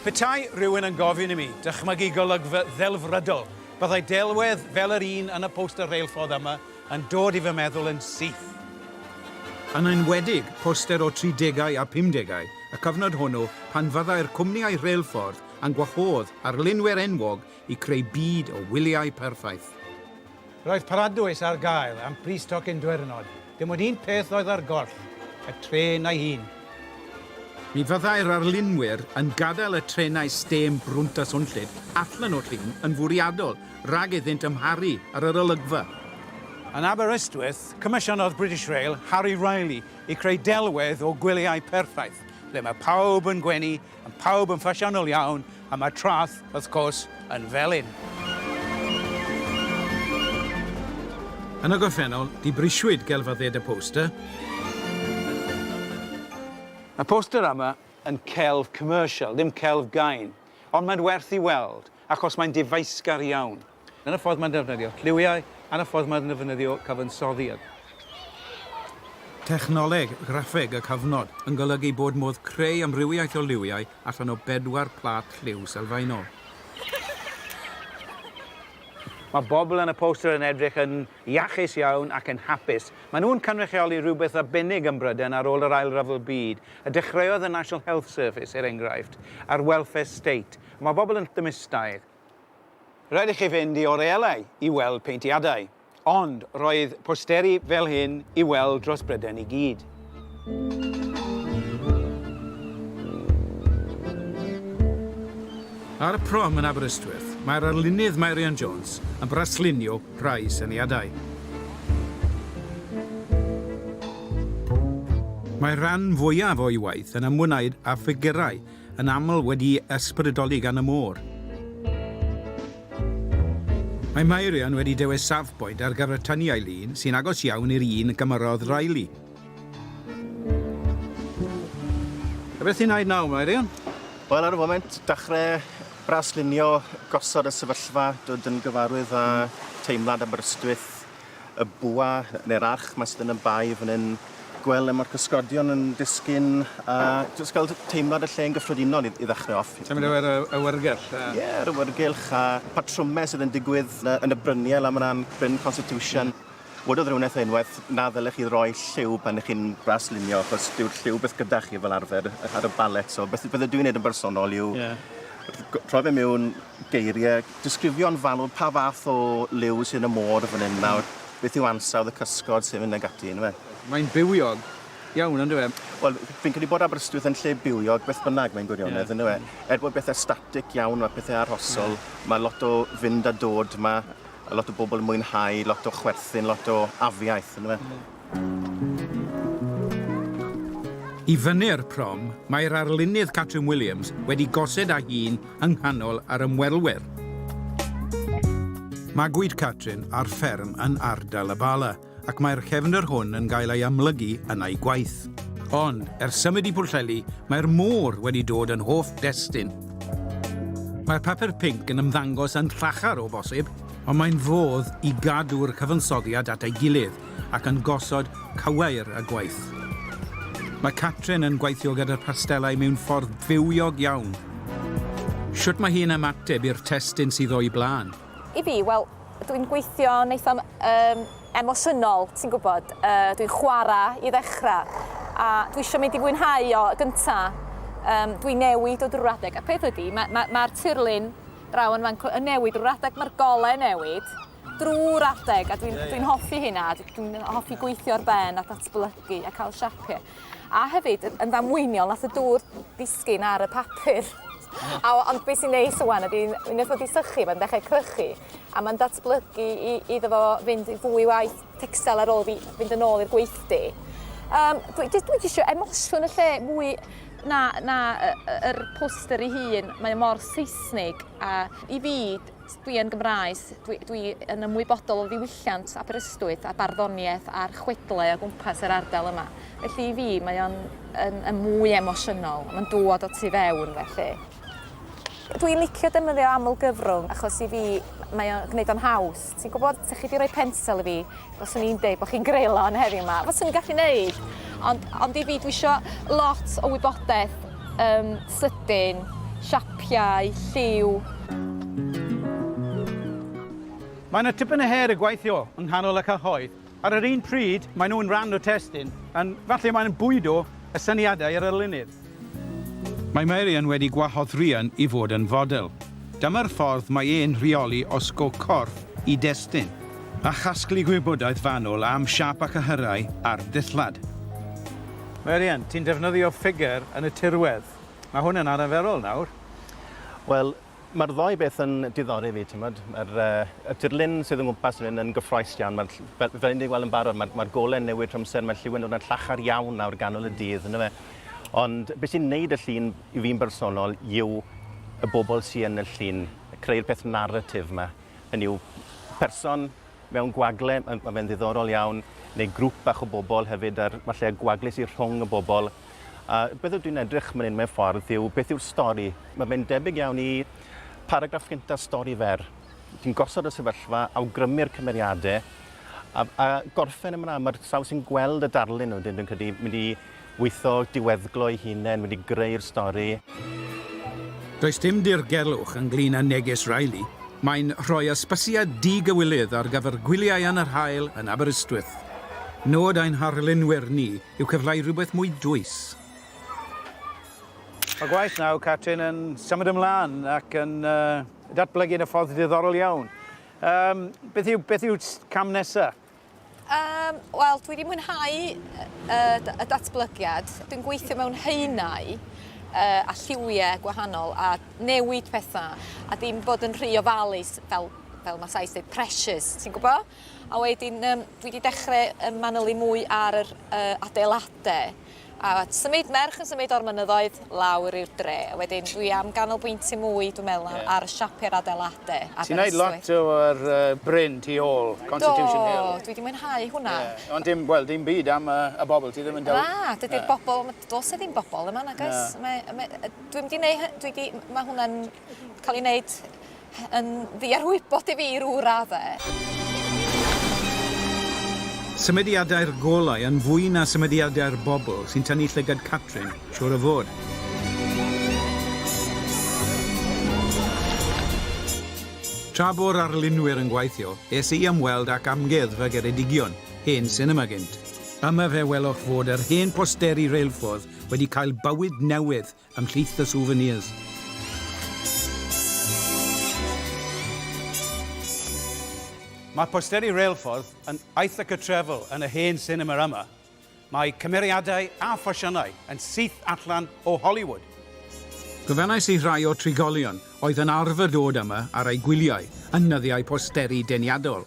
Petai rhywun yn gofyn i mi dychmygu golygfa ddelfrydol, byddai delwedd fel yr un yn y poster reilffordd yma, Yn dod i fy meddwl yn syth. Yn enwedig, poster o tridegau a phumdegau y cyfnod hwnnw pan fyddai'r cwmniau rheilffordd yn gwahodd arlunwyr enwog i creu byd o wyliau perffaith. Roedd paradwys ar gael am bris tocyn dwyrnod, dim ond un peth oedd ar goll, y trên ei hun. Mi fyddai'r arlunwyr yn gadael y trenau stêm brwnt a swnllyd allan o llun yn fwriadol rhag iddynt amharu ar yr olygfa. Yn Aberystwyth, comisiynodd British Rail Harry Riley i creu delwedd o gwyliau perffaith, ble mae pawb yn gwenu, yn pawb yn ffasiynol iawn, a mae'r traeth, wrth gwrs, yn felyn. Yn y gorffennol, dibrisiwyd gelf a ded y poster. Mae poster yma yn celf commercial, ddim celf gain, ond mae'n werth i weld. Achos mae'n difaesgar iawn. Yn y ffordd mae'n defnyddio lliwiau a'n y ffordd mae'n defnyddio cyfansoddiad. Technoleg graffeg y cyfnod, yn golygu bod modd creu amrywiaeth o liwiau allan o bedwar plât lliw sylfaenol. Mae bobl yn y poster yn edrych yn iachus iawn ac yn hapus. Maen nhw'n cynrychioli rhywbeth arbennig ym Mhrydain ar ôl yr Ail Ryfel Byd, y dechreuodd y National Health Service, er enghraifft, a'r Welfare State. Mae pobl yn Llymustair. Rhaid i chi fynd i Oreelay i weld peintiadau, ond roedd posteri fel hyn i weld dros Bryden i gyd. Ar y prom yn Aberystwyth, mae'r arlunydd Meirion Jones yn braslunio rhai syniadau. Mae'r rhan fwyaf o'i waith yn ymwneud â ffigurau yn aml wedi ysbrydoli gan y môr. Mae Meirion wedi dewis safbwynt ar gyfer tyniau lun sy'n agos iawn i'r un gymerodd Riley. A beth ti'n wneud nawr, Meirion? Wel, ar y foment, dechrau braslunio gosod y sefyllfa, dod yn gyfarwydd â teimlad Aberystwyth, y bwa neu'r arch ma' sydd yn y bae fan hyn, gweld le ma'r cysgodion yn disgyn a jyst cael teimlad y lle yn gyffredinol i i ddechrau off. Symud ar yr awyrgylch a... Ie, yr awyrgylch a patrymau sydd yn digwydd yn y yn y bryniau lan mana'n Bryn Constitution. Wedodd rhywun wrtha i unwaith, na ddylech chi roi lliw pan 'ych chi'n braslunio achos dyw'r lliw byth gyda chi fel arfer ar y ballet so beth beth ydw i'n neud yn bersonol yw... Ie. ...rhoi fe miwn, geirie, disgrifio'n fanwl pa fath o liw sy'n y môr fan hyn nawr, beth yw ansawdd y cysgod sy'n mynd ag ati yndyw e? Mae'n bywiog iawn yndyw e? Wel, fi'n credu bod Aberystwyth yn lle bywiog beth bynnag mae'n gwirionedd yeah. yndyw e? Er bod bethau static iawn, mae pethau arhosol, yeah. mae lot o fynd a dod, mae a lot o bobl yn mwynhau, lot o chwerthin, lot o afiaeth yndyw e? Yeah. I fyny'r prom, mae'r arlunydd Catrin Williams wedi gosed â hi'n yng nghanol yr ymwelwyr. Magwyd Catrin ar fferm yn ardal y Bala ac mae'r cefndir hwn yn cael ei amlygu yn ei gwaith. Ond, ers symud i Pwllheli, mae'r môr wedi dod yn hoff destun. Mae'r papur pinc yn ymddangos yn llachar o bosib, ond mae'n fodd i gadw'r cyfansoddiad at ei gilydd ac yn gosod cywair a gwaith. Mae Catrin yn gweithio gyda'r pastelau mewn ffordd bywiog iawn. Shwt mae hi'n ymateb i'r testun sydd o'i blaen? I fi, wel, dw i'n gweithio'n eitha' yym emosiynol, ti'n gwybod, yy dwi'n chwarae i ddechrau, a dwi isio mynd i fwynhau o gynta'. Yym dwi'n newid o drwy'r adeg, y peth ydy, ma' ma' ma'r tirlun draw yn fan 'cw yn newid drwy'r adeg, ma'r gole'n newid. drwy'r adeg a dwi'n yeah, yeah. dwi'n hoffi hynna, dwi'n hoffi gweithio ar ben a datblygu a cael siapio. A hefyd yn ddamweiniol nath y dŵr disgyn ar y papur. A, ond beth sy'n neis o wan ydy, unwaith wedi sychu, mae'n dechrau crychu, a mae'n datblygu i, iddo fo fynd fwy waith texel ar ôl fi fynd yn ôl i'r gweithdy. Um, dwi, dwi, dwi eisiau emosiwn y lle mwy na, na yr poster ei hun, mae mor Saesnig a i fi Dwi yn Gymraes, dwi, dwi yn ymwybodol o ddiwylliant Aberystwyth a barddoniaeth a'r chwedlau o gwmpas yr ardal yma. Felly i fi mae o'n yn, yn mwy emosiynol, mae'n dod o tu fewn felly. Dwi'n licio defnyddio aml gyfrwng achos i fi mae o'n gwneud o'n haws. Ti'n gwybod, 'sa chi wedi rhoi pensel i fi, Faswn i'n deud bod chi'n greulon heddiw yma. Faswn i'n gallu neud. Ond, ond i fi, dwi isio lot o wybodaeth um, sydyn, siapiau, lliw, Mae yna tipyn o her y gweithio yng nghanol y cyhoedd. Ar yr un pryd, maen nhw'n rhan o testun, yn falle maen nhw'n bwydo y syniadau ar y lunydd. Mae Marian wedi gwahodd Rhian i fod yn fodel. Dyma'r ffordd mae e'n rheoli osgo corff i destun a chasglu gwybodaeth fanwl am siâp a chyhyrau ar ddillad. Marian, ti'n defnyddio ffigur yn y tirwedd. Mae hwn yn arferol nawr. Wel, Mae'r ddou beth yn diddori fi, timod. Mae'r uh, tirlun sydd yn gwmpas yn, yn gyffroes iawn. Mae'r, fel, fel ni'n gweld yn barod, mae'r, mae gole'n newid trwy amser, mae lliw yn dod yn llachar iawn nawr ganol y dydd, ynddo fe. Ond beth sy'n neud y llun i fi'n bersonol yw y bobl sy'n yn y llun, creu'r peth narratif yma. Hynny yw, person mewn gwagle, mae ma fe'n ddiddorol iawn, neu grŵp bach o bobl hefyd, a'r falle y gwagle sydd rhwng y bobl. A beth dwi'n edrych man hyn mewn ffordd yw beth yw'r stori. Mae fe'n debyg iawn i paragraff gyntaf stori fer. Ti'n gosod y sefyllfa, awgrymu'r cymeriadau, a, a gorffen yn fan'na. Mae'r sawl sy'n gweld y darlun wedyn, dwi'n credu, mynd i Weitho, diweddglo ei hunen wedi greu'r stori. Does dim dirgelwch ynglŷn â neges Riley, mae'n rhoi ysbysiad di-gywilydd ar gyfer gwyliau yn yr haul yn Aberystwyth. Nod ein harlunwyr ni yw cyfleu rhywbeth mwy dwys. Mae gwaith Now Catrin yn symud ymlaen ac yn datblygu yn y ffordd diddorol iawn. Beth yw cam nesaf? Yym, wel, dwi wedi mwynhau y, y datblygiad. Dwi'n gweithio mewn haenau uh, a lliwiau gwahanol a newid pethau a ddim bod yn rhy ofalus fel, fel mae Sais dweud, precious, ti'n gwybod? A wedyn um, dwi wedi dechrau manylu mwy ar yr uh, adeiladau A symud, merch yn symud o'r mynyddoedd lawr i'r dre. A wedyn dwi am ganolbwyntio mwy, dwi'n meddwl, ar, ar y siapiau'r adeiladau. Ti'n neud lot o'r uh, bryn tu ôl, Constitution Hill. Do, dwi wedi mwynhau hwnna. Yeah. Ond dim, wel, dim byd am uh, y bobl, ti ddim yn dewis. Na, dydy'r yeah. bobl, dos e ddim bobl yma, nagos. Yeah. Mae, mae, dwi'n wedi neud, dwi wedi, mae hwnna'n cael ei wneud yn ddiarwybod i fi i rw radde. Symudiadau'r golau yn fwy na symudiadau'r bobl sy'n tynnu llygad Catrin, siŵr o fod. Tra bo'r arlunwyr yn gweithio, es i ymweld ac Amgueddfa Geredigion, hen sinema gynt. Yma fe welwch fod yr hen posteri reilffordd wedi cael bywyd newydd ymhlith y souvenirs. Mae posteri reilffordd yn Ithaca Travel yn y hen sinema yma. Mae cymeriadau a ffasiynau yn syth allan o Hollywood. Gofynnais i rai o trigolion oedd yn arfer dod yma ar eu gwyliau yn nyddiau posteri deniadol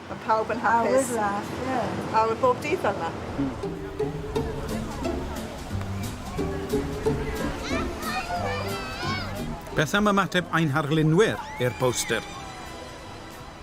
Mae pawb yn hapus. Awyr lach, ie. Awyr bob dydd fel yma. Beth am ymateb ein harlunwyr i'r poster?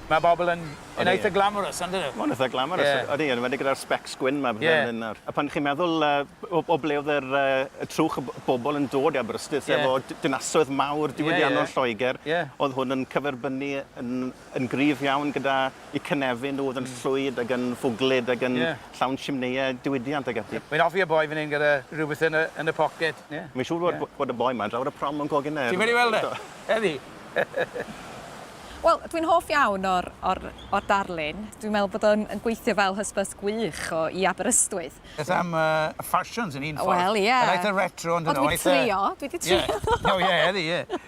Mae bobl yn yn eitha glamorous on'd 'yn nhw? Ma'n eitha glamorous. Ie. Odi, yn enwedig gyda'r specs gwyn 'ma fel hyn nawr. A pan chi'n meddwl yy o o ble o'dd yr yy y trwch o b- bobl yn dod i Aberystwyth efo d- dinasoedd mawr diwydiannol Lloegr. Ie. O'dd hwn yn cyferbynnu yn yn gryf iawn gyda eu cynefin nhw oedd yn llwyd ac yn fwglyd ac yn llawn simneiau diwydiant ac ati. Mae'n hoffi y boi fan hyn gyda rhywbeth yn y yn y poced. Ie. Mae'n siŵr fod bod y boi 'ma drawr y prom yn coginne yndyw e? Ti wedi weld e? Ydi. Wel dwi'n hoff iawn o'r o'r o'r darlun. Dwi'n meddwl bod o'n yn gweithio fel hysbys gwych o i Aberystwyth. Beth am yy y ffasiwns yn un ffordd? Wel ie. Yr eitha retro on'd 'yn nw? Wel dwi 'di trio dwi 'di trio. Ie. O ie ydi ie.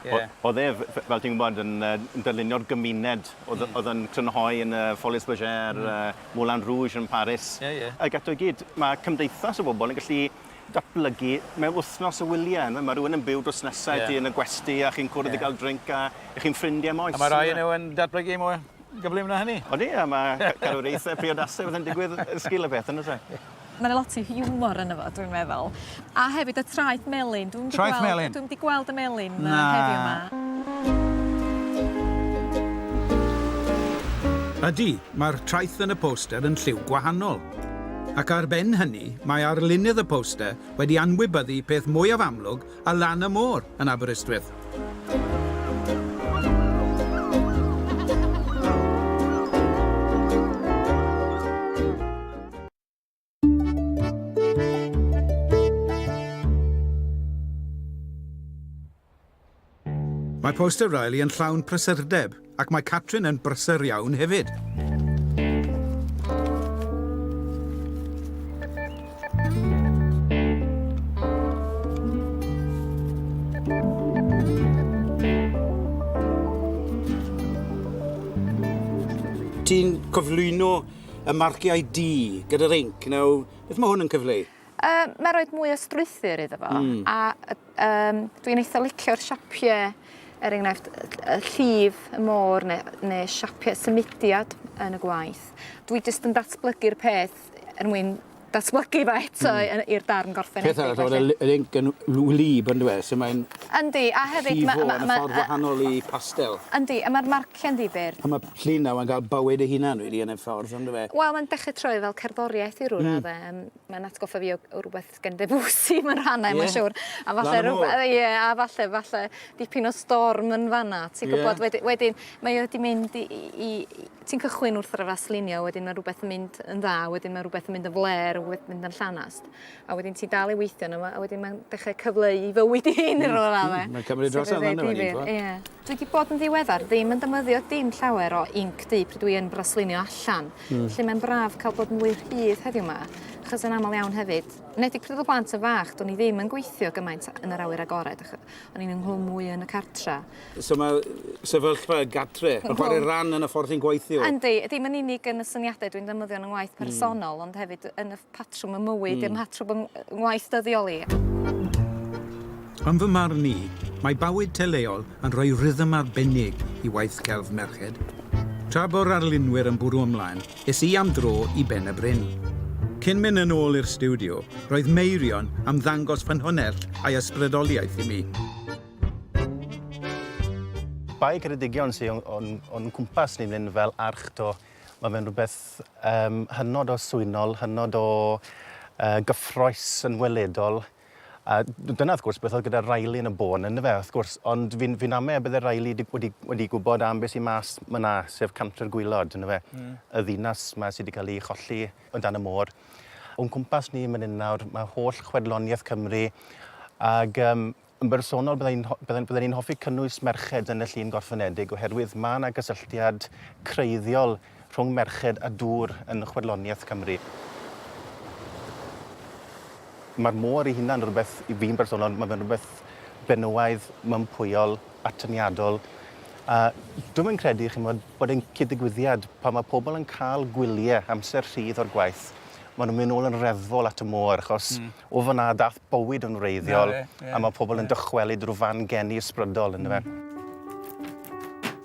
Ie. O- oedd e, f- f- fel ti'n gwybod, yn yy yn dylunio'r gymuned oedd y- oedd yn crynhoi yn y Folies Bergère, y Moulin Rouge yn Paris. Ie, ie. Ag eto i gyd, ma' cymdeithas o bobl yn gallu datblygu mewn wythnos o wylie yn'w e? Ma' rywun yn byw drws nesa i ti... Ie. ...yn y gwesty a chi'n cwrdd... Ie. ...i ga'l drink a 'ych chi'n ffrindie am oes yn'w e? A ma' rhai o nw yn datblygu mwy gyflym na hynny. Odi a ma' ca- cadwraethe priodasau a pethe'n digwydd yn sgil y peth yndo's e? Mae yna lot o hiwmor ynddo fo, dwi'n meddwl. A hefyd y traeth melyn. Dwi'm 'di Traeth gweld- melyn? Dwi'm 'di gweld y melyn 'ma Na. heddiw 'ma. Ydy, mae'r traeth yn y poster yn lliw gwahanol. Ac ar ben hynny, mae arlunydd y poster wedi anwybyddu peth mwyaf amlwg a lan y môr yn Aberystwyth. Mae poster Riley yn llawn prysurdeb. Ac mae Catrin yn brysur iawn hefyd. Ti'n cyflwyno y marciau du gyda'r inc. Nawr, beth mae hwn yn cyfleu? Yy mae roed mwy o strwythur iddo fo mm. a um, dwi'n eitha licio'r siapiau er enghraifft y llif y môr neu, neu siapiau symudiad yn y gwaith. Dwi jyst yn datblygu'r peth er mwyn datblygu fe eto mm. i'r darn gorffenedig. Peth arall, oedd y link yn wlyb yn dweud, sy'n mae'n... Yndi, a hefyd... Llifo yn y ffordd wahanol i pastel. Yndi, a mae'r Llên ddifyr. A ma' llun nawr yn ga'l bywyd ei hunan rili yn y ffordd on'd yw e? Wel mae'n dechre troi fel cerddoriaeth i rywun... Hmm. ...o'dd e yym mae'n atgoffa fi o o rwbeth gen Debussy mewn rhannau... Ie? ...mae'n siŵr. A falle ryw... Lan y môr? ...ie a falle falle dipyn o storm yn fan 'na ti'n gwbod... Ie. ...wed- wedyn mae o 'di mynd i i i i... Ti'n cychwyn wrth arafaslinio wedyn ma' rwbeth yn mynd yn dda wedyn ma' rwbeth yn mynd yn flêr a rwbeth mynd yn llanast. a wedyn ti dal i weithio yno fo, a wedyn mae'n dechrau cyfleu i fywyd i hyn yn rhywle dda. Mae'n cymryd dros yna yna wedi bod. Ie. Dwi wedi bod yn ddiweddar ddim yn dymyddio dim llawer o inc du pryd dwi yn braslinio allan. Mm. Felly mae'n braf cael bod mwy rhydd heddiw yma, achos yn aml iawn hefyd, nedig pryd oedd y blant yn fach, do'n i ddim yn gweithio gymaint yn yr awyr agored, o'n i'n ynghlwm mwy yn y cartra. So mae sefyllfa y gatre, yn chwarae ran yn y ffordd sy'n gweithio? Yndi, ddim yn unig yn y syniadau dwi'n ddymyddio yn yng ngwaith hmm. personol, mm. ond hefyd yn y patrwm y mywyd, mm. dim patrwm yn ngwaith dyddiol i. Yn fy marn i, mae bywyd teleol yn rhoi rhythm arbennig i waith celf merched. Tra bo'r arlunwyr yn bwrw ymlaen, es i am dro i Ben y Bryn. Cyn mynd yn ôl i'r studio, roedd Meirion am ddangos ffynhonnell a'i ysbrydoliaeth i mi. Bai Ceredigion sy'n o'n, on cwmpas ni fan fel arch to Mae fe'n rhywbeth yym hynod o swynol, hynod o yy gyffrous yn weledol. A d- dyna wrth gwrs beth oedd gyda Riley yn y bôn yndyfe wrth gwrs ond fi'n fi'n ame y bydde Riley di- wedi wedi gwbod am be' sy mas ma' 'na sef Cantre'r Gwaelod yndyfe? Hmm. Y ddinas 'ma sy 'di ca'l 'i cholli o dan y môr. O'n cwmpas ni myn 'yn nawr ma' holl chwedlonieth Cymru ag yym Yn bersonol, bydda i'n bydda, bydda i'n hoffi cynnwys merched yn y llun gorffenedig oherwydd mae yna gysylltiad creiddiol rhwng merched a dŵr yn chwedloniaeth Cymru. Mae'r môr ei hunan rhywbeth, i fi'n bersonol, mae fe'n rhywbeth benywaidd, mympwyol, atyniadol. A dwi'n yn credu, chi'n bod, bod e'n cyd-ddigwyddiad pan mae pobl yn cael gwyliau amser rhydd o'r gwaith. Maen nhw'n mynd nôl yn reddfol at y môr, achos mm. o fyna dath bywyd yn wreiddiol a mae pobl yn dychwelyd rhyw fan geni ysbrydol ynddo fe.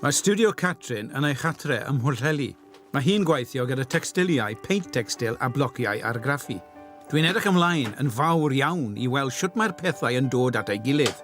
Mae stiwdio Catrin yn ei chartre ym Mhwllheli. Mae hi'n gweithio gyda tecstiliau, peint tecstil a blociau argraffu. Dwi'n edrych ymlaen yn fawr iawn i weld shwt mae'r pethau yn dod at ei gilydd.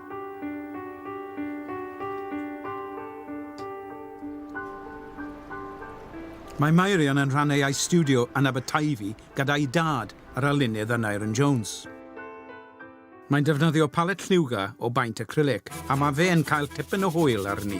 Mae Meirion yn rhannu ei stiwdio yn Aberteifi gyda'i dad, yr arlunydd Aneurin Jones. Mae'n defnyddio palet lliwgar o baent acrylic a mae fe'n cael tipyn o hwyl arni.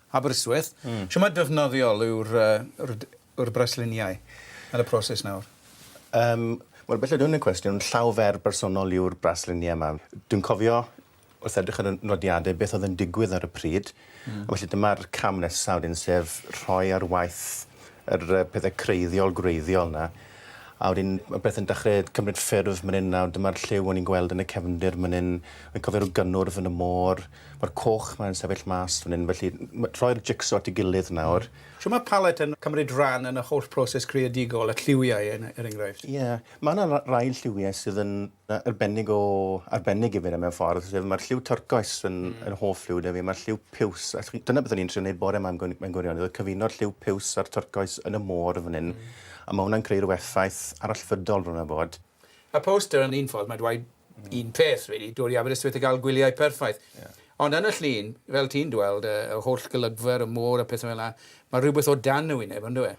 Aberystwyth. Shwmae defnyddiol yw'r yw'r brasluniau yn y proses nawr? Yym, wel belled hwn yn cwestiwn llaw fer bersonol yw'r brasluniau yma. Dwi'n cofio, wrth edrych ar y nodiadau, beth oedd yn digwydd ar y pryd. A felly dyma'r cam nesaf wedyn sef rhoi ar waith yr yy pethe creiddiol gwreiddiol 'na. A wedyn ma' pethe'n dechre cymryd ffurf myn 'yn nawr dyma'r lliw o'n i'n gweld yn y cefndir myn 'yn. Wi'n cofio ryw gynnwrf yn y môr. Mae'r coch 'ma yn sefyll mas fan hyn, felly rhoi'r jig-so at ei gilydd nawr. Shwt mae palet yn cymryd rhan yn y holl broses creadigol, y lliwiau er enghraifft? Ie, mae 'na rai lliwiau sydd yn arbennig o arbennig i fi mewn ffordd, sef mae'r lliw twrcoes yn yn hoff lliw 'da fi, mae'r lliw piws, dyna beth o'n i'n trio neud bore 'ma mewn gwirionedd oedd cyfuno'r lliw piws a'r twrcoes yn y môr fan hyn, a ma' hwnna'n creu ryw effaith arallfydol bron a bod. Y poster yn un ffordd, mae'n dweud un peth, rili, dod i Aberystwyth a gael gwyliau perffaith. Ond yn y llun, fel ti'n dweld, y holl golygfa ar y môr a pethau fel yna, mae rhywbeth o dan y wyneb, yn dyw e?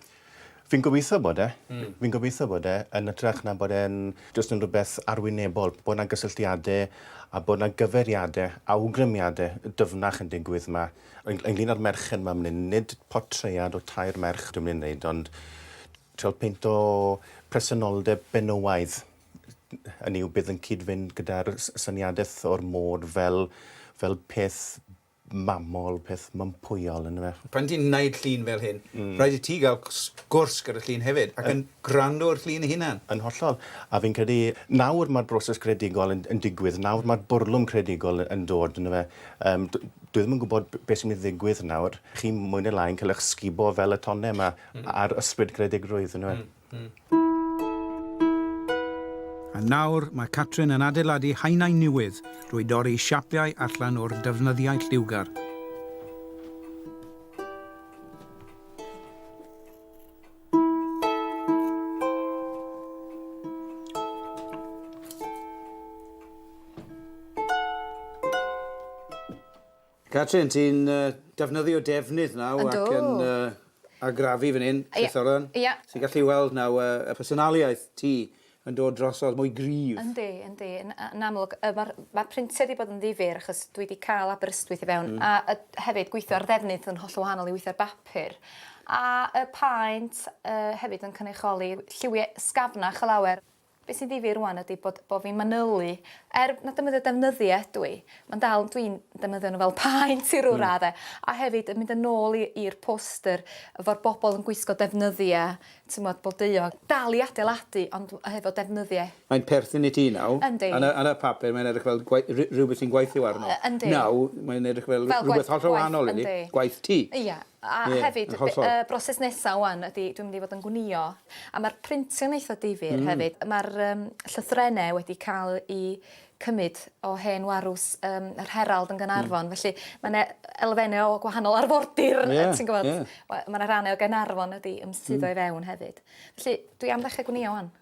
Fi'n gobeithio bod e. Fi'n gobeithio bod e, yn ytrach na bod e'n jyst yn rhywbeth arwynebol, bod 'na gysylltiadau a bod 'na gyfeiriadau, awgrymiadau dyfnach yn digwydd 'ma. Ynglŷn â'r merched 'ma myn hyn, nid portread o tair merch dwi'n mynd i wneud, ond Trial peint o presenoldeb benywaidd, hynny yw bydd yn cyd-fynd gyda'r syniadaeth o'r môr fel fel peth mamol, peth mympwyol yndyfe? Pan ti'n wneud llun fel hyn, rhaid i ti gael sgwrs gyda'r llun hefyd ac yn gwrando i'r llun ei hunan. Yn hollol. A fi'n credu nawr mae'r broses greadigol yn yn digwydd, nawr mae'r bwrlwm creadigol yn dod yndyfe? Yym dwi ddim yn gwybod beth sy'n mynd i ddigwydd nawr, chi mwy neu lai'n cael eich sgubo fel y tonnau 'ma. a'r ysbryd creadigrwydd yn'w e? A nawr mae Catrin yn adeiladu haenau newydd drwy dorri siapiau allan o'r defnyddiau lliwgar. Catrin, ti'n uh, defnyddio defnydd naw ac yn uh, agrafu fan hyn, Trysoran. Ie. Yeah. Ti'n gallu weld naw uh, y personaliaeth ti yn dod drosodd mwy gryf. Yndi, yndi. Yn, yn amlwg, uh, mae'r ma printiau wedi bod yn ddifur achos dwi wedi cael Aberystwyth i fewn. Mm. A, a hefyd gweithio ar ddefnydd yn holl wahanol i weithio ar bapur. A y paent uh, hefyd yn cynrychioli lliwiau sgafnach o lawer. Be sy'n ddifyr rwan ydi bod bo fi'n manylu er na defnyddio defnyddio ydw i ma'n dal dwi'n defnyddio nhw fel paent i ryw radde a hefyd yn mynd yn ôl i i'r poster efo'r bobol yn gwisgo defnyddia t'mod blodeuo dal i adeiladu ond hefo defnyddia. Mae'n perthyn i ti nawr. Yndi. Ar y ar y papur mae'n edrych fel gwei- ry- rywbeth ti'n gweithio arno. Yy yndi. Nawr mae'n edrych fel rywbeth hollol wahanol iddi. Yndi. Gwaith ti. Ia. A hefyd... Ie, yn hollol. ...y broses nesa ŵan ydi dwi'n mynd i fod yn gwnïo a ma'r printio'n eitha difyr... Hmm. ...hefyd. Ma'r yym llythrenne wedi ca'l 'u cymyd o hen warws yym yr Herald yn Ganarfon... Hmm. ...felly ma' 'ne elfenne o gwahanol arfordir... Ie, ie. ...yy ti'n gwbod we- ma' 'na rane o Gaernarfon wedi ymsuddo i fewn hefyd. Felly dwi am ddechre gwnïo ŵan.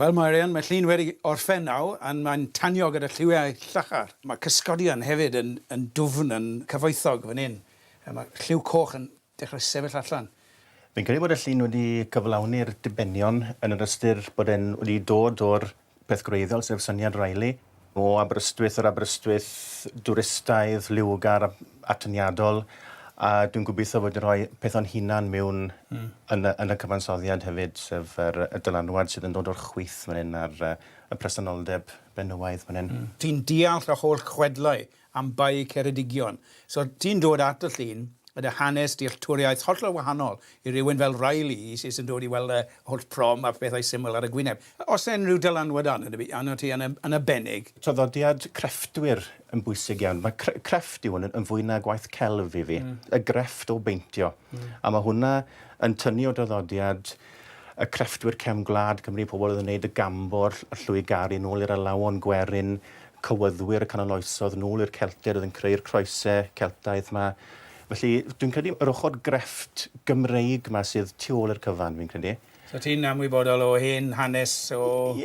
Wel Marian, mae llun wedi orffen nawr, and mae'n tanio gyda lliwiau llachar. Mae cysgodion hefyd yn yn dwfn yn cyfoethog fan hyn. A mae lliw coch yn dechrau sefyll allan. Fi'n credu bod y llun wedi cyflawni'r dibenion yn yr ystyr bod e'n wedi dod o'r peth gwreiddiol, sef syniad Riley. O Aberystwyth yr Aberystwyth, dwristaidd, liwgar, atyniadol, a dwi'n gobeithio fod yn rhoi peth o'n hunan mewn mm. yn, y, yn y cyfansoddiad hefyd, sef yr, y dylanwad sydd yn dod o'r chwyth fan hyn a'r y presenoldeb benywaidd fan hyn. Mm. Ti'n deall y holl chwedlau am bai Ceredigion. So ti'n dod at y llun a dy hanes, dealltwriaeth hollol wahanol i rywun fel Riley sydd yn dod i weld y holl prom a phethau syml ar y gwyneb. Oes yna unrhyw dylanwad arnot ti yn arbennig? Traddodiad crefftwyr yn bwysig iawn. Mae crefft yw hwn yn fwy na gwaith celf i fi. Y grefft o beintio. A mae hwnna yn tynnu o draddodiad y crefftwyr cefn gwlad Cymru, pobl oedd yn wneud y gambor, y llwygaru, nôl i'r alawon gwerin, cywyddwyr y canol oesoedd, nôl i'r Celtiaid oedd yn creu'r croesau Celtaidd 'ma. Felly, dwi'n credu yr ochr grefft Gymreig 'ma sydd tu ôl i'r cyfan, fi'n credu. So ti'n anwybodol o hen hanes o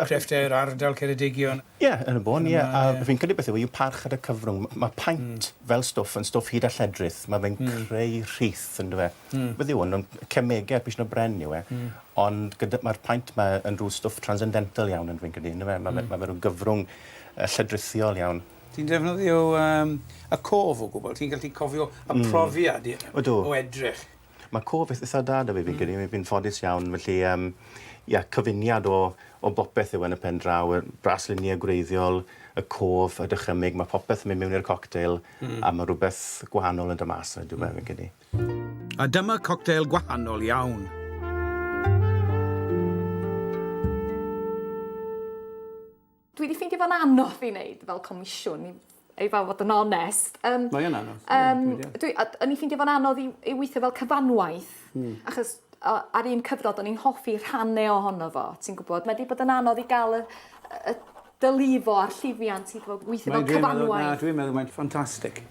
crefftau'r ardal, Ceredigion? Ie, yn y bôn, ie. A fi'n credu beth yw e, yw parch at y cyfrwng. Mae paent fel stwff yn stwff hud a lledrith. Mae fe'n creu rhith, yn dyw e. Hmm. Beth yw hwn? Yn cemege pishyn o bren yw e. Hmm. Ond gyda... Mae'r paent ma yn rhyw stwff transcendental iawn yn fi'n credu, yndyfe? Mae fe... Hmm. Mae fe rhyw gyfrwng yy lledrithiol iawn. Ti'n defnyddio yym y cof o gwbl? Ti'n gallu cofio y hmm. profiad i- Ydw. o edrych? Mae cof eith- eitha da 'da fi fi'n hmm. credu. Fi'n ffodus iawn felly yym ia cyfuniad o o bopeth yw e yn y pen draw, y braslunie gwreiddiol, y cof, y dychymyg, mae popeth yn mynd mewn i'r cocktail, hmm. a mae rhywbeth gwahanol yn dy mas 'na, dwi'n meddwl, fi'n credu. A dyma coctel gwahanol iawn. Dwi wedi ffeindio fo'n anodd i wneud fel comisiwn, i fel fod yn onest. Um, Mae yna anodd. Um, dwi, o'n i ffeindio fo'n anodd i, i weithio fel cyfanwaith, mm. achos ar un cyfnod o'n i'n hoffi rhannu ohono fo, ti'n gwybod. Mae wedi bod yn anodd i gael y, y dy lifo a'r llifiant i fod weithio fel cyfanwaith. Na, dwi'n meddwl mae'n ffantastig.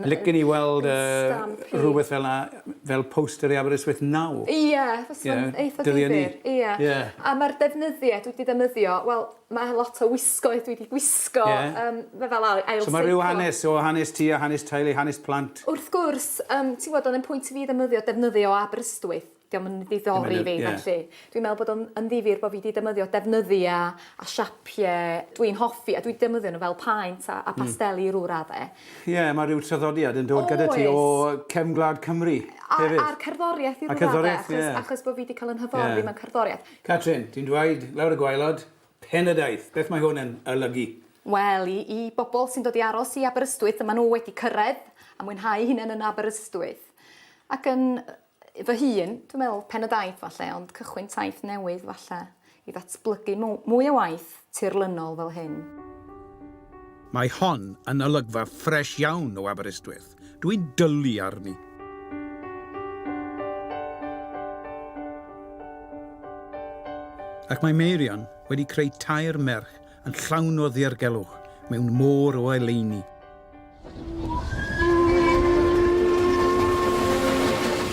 Licen i weld rhywbeth fel 'na fel poster i Aberystwyth nawr. Ie, fysa'n eitha difyr. Ie. A ma'r defnyddiau dwi 'di ddefnyddio, wel, ma' lot o wisgoedd dwi 'di gwisgo yym ma' fel ail seiclo. So ma' rhyw hanes o hanes ti a hanes teulu, hanes plant. Wrth gwrs, yym ti'n gwbod o'dd e'n pwynt i fi ddefnyddio defnyddio o Aberystwyth. 'dio'm yn ddiddori fi felly. Dwi'n meddwl bod o'n yn ddifyr bo' fi 'di defnyddio defnyddia a siapie dwi'n hoffi a dwi 'di defnyddio n'w fel paent a a pasteli i rw radde. Ie ma' ryw traddodiad yn dod gyda ti o cefn gwlad Cymru hefyd. A a'r cerddoriaeth i rw radde. A cerddoriaeth ie. Achos achos bo' fi 'di ca'l 'yn hyfforddi mewn cerddoriaeth. Catrin, ti'n dweud lawr y gwaelod, Penydaeth, beth mae hwn yn olygu? Wel i i bobol sy'n dod i aros i Aberystwyth a ma' n'w wedi cyrredd a mwynhau 'u hunen yn Aberystwyth ac yn yy fy hun, dwi'n meddwl, pen y daith falle, ond cychwyn taith newydd falle, i ddatblygu mwy o waith tirlynol fel hyn. Mae hon yn olygfa ffresh iawn o Aberystwyth, dwi'n dwlu arni. Ac mae Meirion wedi creu tair merch Yn llawn o ddirgelwch, mewn môr o eleini.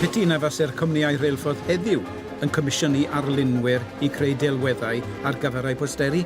Piti na faser cwmnïau rheilffordd heddiw yn comisiynu arlunwyr i creu delweddau ar gyfer eu posteri.